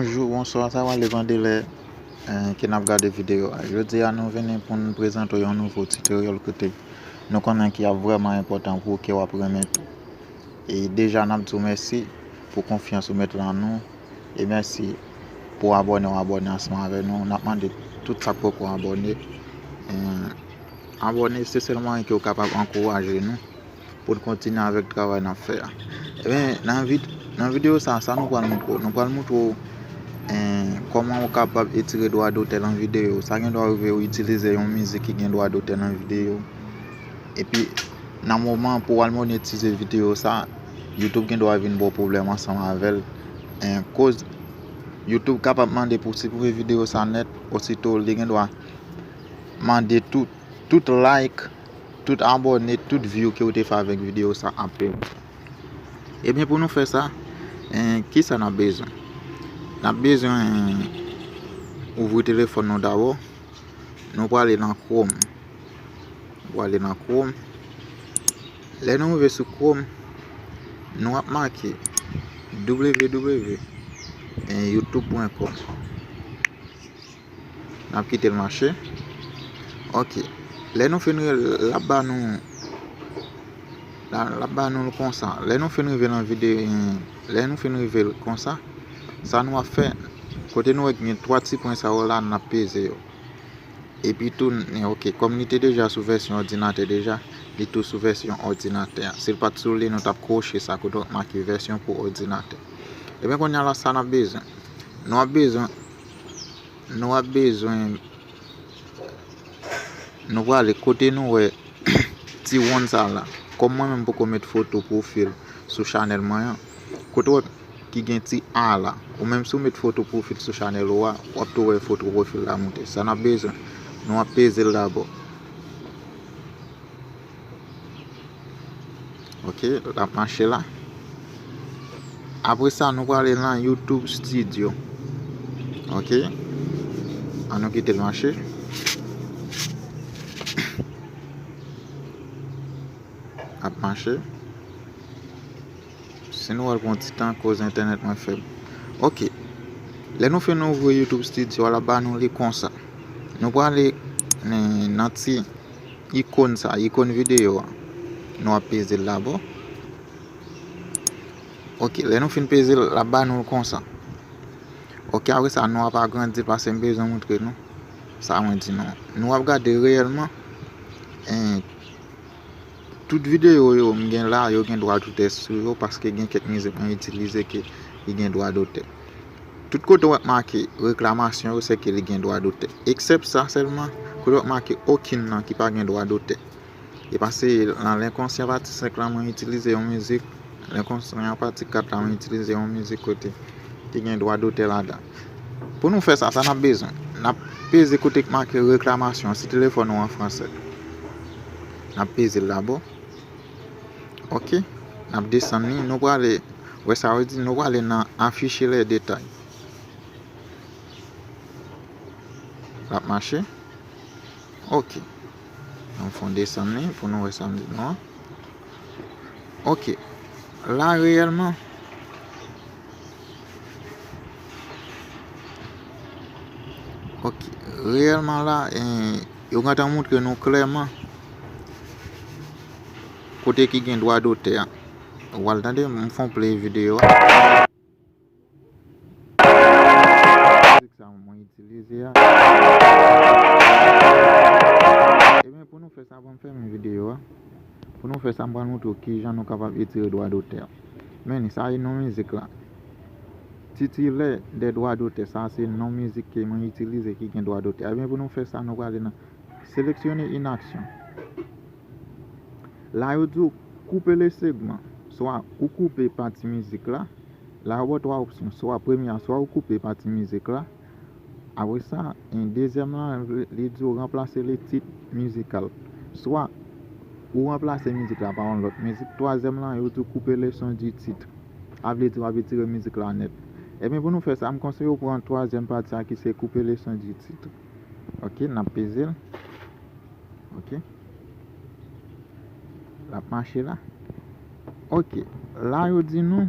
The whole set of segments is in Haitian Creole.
Bonjou, bonswa, sa wale vandele ki nap gade videyo a Jodi a nou veni pou nou prezante yon nouvo tutorial kote nou konnen ki ap vreman impotant pou ou ke wap remet e deja nap di ou mèsi pou konfyans ou met lan nou e mèsi pou abòne ou abòne ansanm avè nou nap mande tout sak poko abòne abòne se sèl mwayen ki ou kapab ankouraje nou poun kontinye avèk travay nap fè a nan videyo sa sa nou pral montre ou nou pral montre ou kòman ou kapab etire dwa dotè nan videyo sa gen dwa rive ou itilize yon mizik ki gen dwa dotè nan videyo epi nan moman pou al monetize videyo sa YouTube gen dwa vin ba w pwoblèm ansanm avè l. Koz YouTube kapab mande pou w siprime videyo sa nèt, ositou li gen dwa mande tou tout like, tout abòne, tout view ke w te fè avèk videyo sa apre. Ebyen pou nou fè sa, kisa n ap bezwen? N ap bezwen ouvri telefòn nou dabò, nou prale nan Chrome. Wap ale nan chrome. Lè nou rive sou chrome. Nou ap make. Www. En youtube pwen com. Nap kite l mache. Ok. Lè nou fin rive. Lap ba nou. Lap ba nou konsa. Lè nou fin rive nan vide. Lè nou fin rive konsa. Sa nou ap fe. Kote nou wè gen 3 ti pwen sa yo la. Nap peze yo. Epi tou, n ok. Kòm li te deja sou vèsyon òdinatè deja, li tou sou vèsyon òdinatè a. Si l pat sou li, nou t ap kwoche sa kote w ap make vèsyon pou òdinatè. Ebyen kounya la sa n ap bezwen. Nou ap bezwen, nou ap bezwen, nou prale kote nou wè ti wonn sa la. Kòm mwen menm m poko met foto pwofil sou chanèl mwen an. Kote wap ki gen ti a la. Ou menm si w met foto pwofil sou chanèl ou a, wap tou wè foto pwofil la moute. Sa nap bezwen? Nou ap peze l dabò. Ok, lap mache la. Apre sa nou prale nan YouTube Studio. Ok. An nou kite l mache. Ap mache. Si nou wèl pran ti tan koz entènèt mwen fèb ok lè nou fin ouvri YouTube studio lap ba nou li konsa nou prale nan ti ikon sa ikon video a nou ap peze l dabò ok lè nou fin peze l lap ba nou l konsa ok apre sa nou ap agrandi l pase m bezwen moutre nou sa mwen di nou nou ap gade reyèlman en Tout videyo yo m gen la yo gen dwa dotè sou yo paske gen kèk mizik mwen itilize ke li gen dwa dotè. Tout kote w ap make reklamasyon yo se ke li gen dwa dotè. Eksèp sa sèlman kote w ap make okenn nan ki pa gen dwa dotè. E pase nan L'Inconscient pati 5 la mwen itilize yon mizik, L'Inconscient pati 4 la mwen itilize yon mizik kote ki gen dwa dotè ladan. Pou nou fè sa, sa n ap bezwen. N ap peze kote ki make Reklamasyon an, si telefòn ou an franse. N ap peze l dabò. Ok. N ap desann li. Nou prale wè sa yo di. Nou prale nan Afficher les détails. L ap mache. Ok. Nou fon desann li pou nou wè sa li di nou an. Ok. La reyèlman. Ok, reyèlman la, yo gantan moutre nou klèman kote ki gen dwa dotè. Ou al tande, m fon play videyo. Pou nou fè sa, m pral montre w kijan nou kapab etire dwa dotè. Menni, sa e non mizik la. Titilè dè dwa dotè, sa se non mizik ke mwen itilize ki gen dwa dotè. Ebyen pou nou fè sa, nou prale nan seleksyone yn aksyon. La yo di w koupe le segman. Swa ou koupe pati mizik la. La yo ba w 3 opsyon. Swa premye a, swa ou koupe pati mizik la. Apre sa, en dezyèm lan, li di ou ranplase li tit mizikal. Swa, ou ranplase mizik la pa yon lòt mizik. Twazyèm lan, yo di ou koupe le son di titre. Sa vle di w ap etire mizik la nèt. Ebyen pou nou fè sa, m konseye ou pran twazyèm pati sa ki se koupe le son di titre. Ok, n ap peze l. Ok. L ap mache la. Ok. La yo di nou.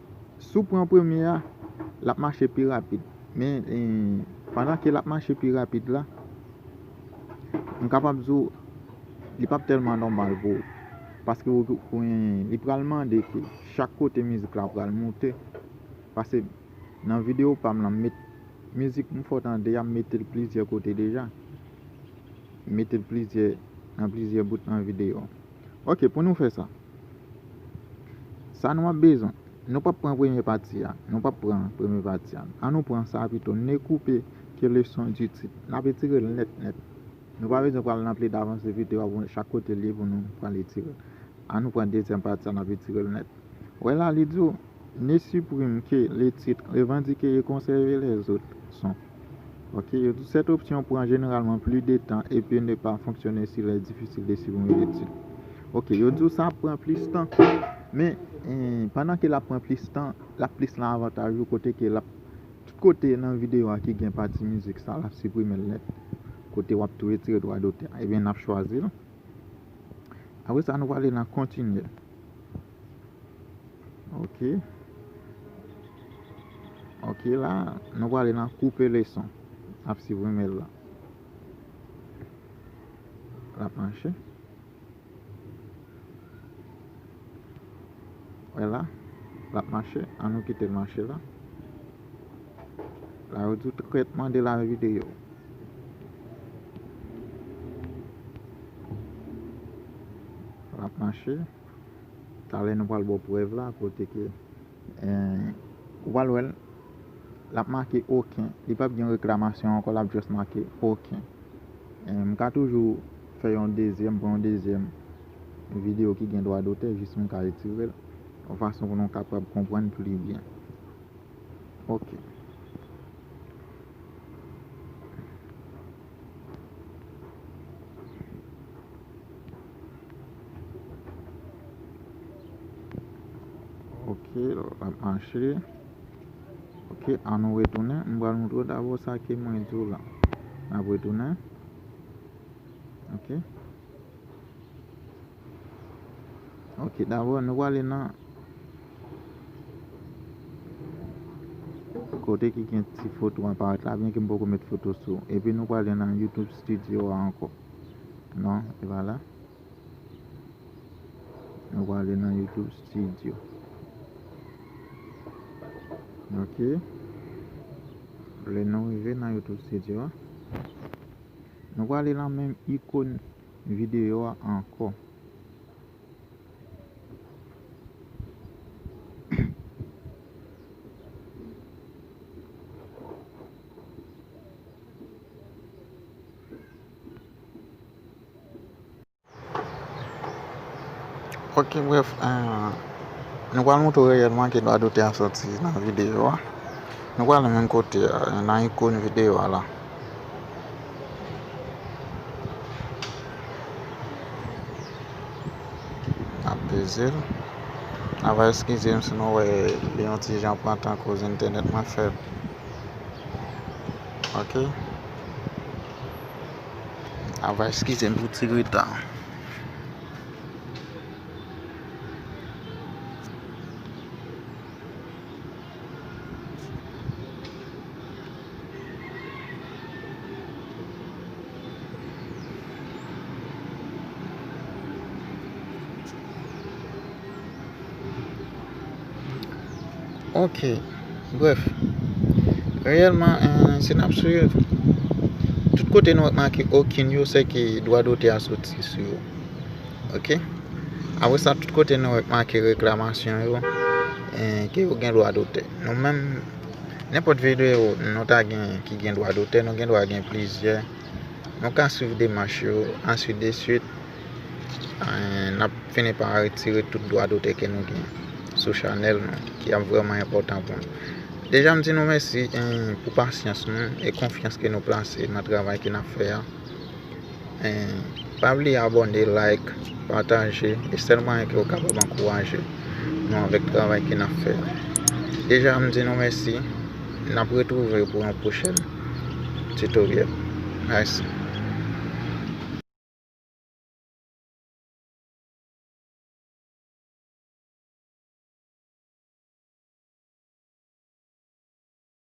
Si w pran premye a, l ap mache pi rapid. Men, pandan ke l ap mache pi rapid la, m kapab di w, li p ap tèlman nòmal pou ou. Paske ou kwen, li pral mande ke chak kote mizik la pral moute. Pase, nan videyo pa m lan, m met mizik m fò tande a, m mete l plizyè kote deja. M mete l plizyè, nan plizyè bout nan videyo. Ok, pou nou fè sa. Sa nou ap bezwen. Nou pap pran premye pati a. Nou pap pran premye pati a. An nou pran sa pito. Ne coupe que le son du titre. N ap etire l nèt nèt. Nou pa bezwen pral nan pli davans epi te wap wè chak kote li pou nou pral etire l. An nou pran dezyèm pati a n ap etire l nèt. Wè la li di w, Ne supprime que le titre, revendiquer et conserver les autres sons. Ok, yo di sèt opsyon pran jeneralman pli de tan epi ne pa fonksyone si lè difisil de swiv yon etid. Ok, yo di w sa ap pran plis tan, men, pandan ke l ap pran plis tan, l ap plis lan avantaj ou kote ke l ap, tout kote nan videyo a ki gen pati mizik sa, l ap siprime l nèt. Kote w ap tou retire dwa dotè a. Ebyen, n ap chwazi l. Apre sa, nou prale nan kontinye. Ok Ok la Nou prale nan koupe leson Ap siprime l la L ap mache Ou wè la L ap mache An nou kite l mache la La yo di tretman de la video L ap mache Talè nou pral baw prèv la kote ke ou pral wèl lap make oken li pap gen reklamasyon ankò lap just make oken m ka toujou fè yon dezyèm pran yon dezyèm video ki gen dwa dotè jis m ka retirel yon fason pou nou kapab konprann pli byen ok. Ok lap mache Ok an nou retounen m pral moutre w dabò sa ke mwen di w la nap retounen Ok. Ok dabò nou wale nan Kote ki gen ti foto an parèt la byen ke m poko met foto sou epi nou wale nan YouTube studio a ankò non e pa la nou wale nan YouTube studio ok lè nou rive nan YouTube studio a nou wale nan menm ikon Video a anko. Ok bref Nou pral montre w reyèlman ki dwa dote a soti nan videyo a Nou pral nan menm kote a nan ikon videyo a la. Nap pezel Nava eskizem si nou wè li yon ti jan pran tan koz entènèt mwen fèb ok Nava eskizem pou ti reta an. Ok, bref, reyèlman, euh, se nap swiv. Tout kote nou ap make okin yo, se ke dwa dote a soti sou yo. Ok Apre sa tout kote nou wè k make reklamasyon yo ke yo gen dwa dotè. Nou menm nenpòt videyo nou ta genyen ki gen dwa dotè nou gen dwa gen plizyè. Nou ka swiv demach yo ansi de swit n ap fini pa retire tout dwa dotè ke nou genyen sou chanèl nou ki ap vrèman enpòtan pou nou. Deja m di nou mèsi pou pasyans nou e konfyans ke nou plase nan travay ke n ap fè a. Pa bliye abone, like, pataje E sèl mwayen ke ou kapab ankouraje Nou avèk travay ke nap fè a Deja m di nou mèsi Nap retrouve pou yon pwochèn Tutoriel Mèsi.